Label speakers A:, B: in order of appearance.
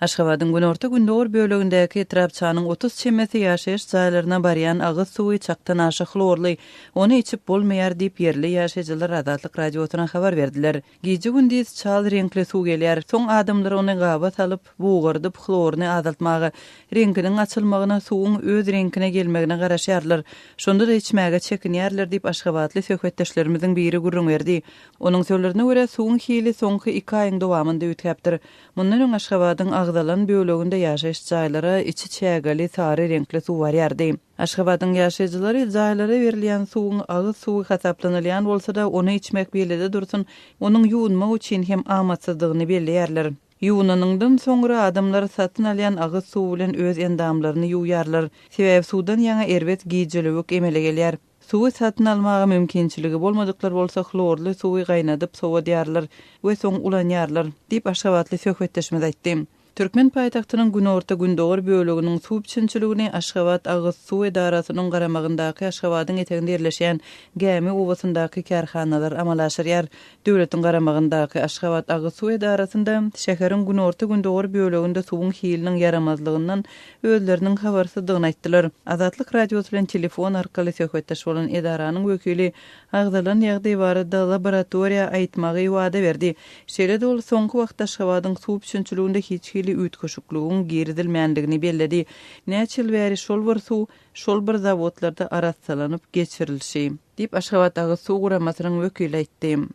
A: Aşgabadyň günorta-gündogar bölegindäki etrapçanyň otuz çemesi ýaşaýyş jaýlaryna barýan agyz suwy çakdan aşa hlorly, ony içip bolmaýar diýip, ýerli ýaşaýjylar Azatlyk Radiosyna habar berdiler. Gije-gündiz çal reňkli suw gelýär, soň adamlar ony gaba salyp, bugardyp, hloryny azaltmaga, reňkiniň açylmagyna, suwuň öz reňkine gelmegine garaşýarlar. Şonda-da içmäge çekinýärler diýip, aşgabatly söhbetdeşlerimiziň biri gürrüň berdi. Onuň sözlerine görä, suwuň hili soňky iki aýyň dowamynda üýtgäpdir. Mundan öň Aşgabadyň agzalan böleginde ýaşaýyş jaýlara içi çägeli sary reňkli suw barýardy. Aşgabadyň ýaşaýjylary jaýlara berilýän suwuň agyz suwy hasaplanylýan bolsa-da, ony içmek beýlede dursun, onuň ýuwunmak üçin hem amatsyzdygyny belleýärler. Ýuwunanyňdan soňra adamlar satyn alýan agyz suwy bilen öz endamlaryny ýuwýarlar. Sebäbi suwdan ýaňa erbet gijölewük emele gelýär. Suwy satyn almaga mümkinçiligi bolmadyklar bolsa hlorly suwy gaýnadyp sowadýarlar we soň ulanýarlar, diýip, aşgabatly söhbetdeşimiz aýtdy. Türkmen paýtagtynyň günorta-gündogar böleginiň suw üpjünçiligini Aşgabat agyz suw edarasynyň garamagyndaky Aşgabadyň eteginde ýerleşýän Gämi obasyndaky kärhanalar amala aşyrýar. Döwletiň garamagyndaky Aşgabat agyz suw edarasynda şäheriň günorta-gündogar böleginde suwuň hiliniň ýaramazlygyndan özleriniň habarsyzdygyny aýtdylar. Azatlyk Radiosy bilen telefon arkaly söhbetdeş bolan edaranyň wekili agzalan ýagdaý barada laboratoriýa aýtmagy wada berdi. Şeýle-de ol soňky wagtda Aşgabadyň suw üpjünçiliginde hiç hili üýtgeşikligiň girizilmändigini belledi. Näçe ýyl bäri şol bir suw, şol bir zawodlarda arassalanyp geçirilşi. Diýip, Aşgabat agyz suw guramasynyň wekili aýtdy.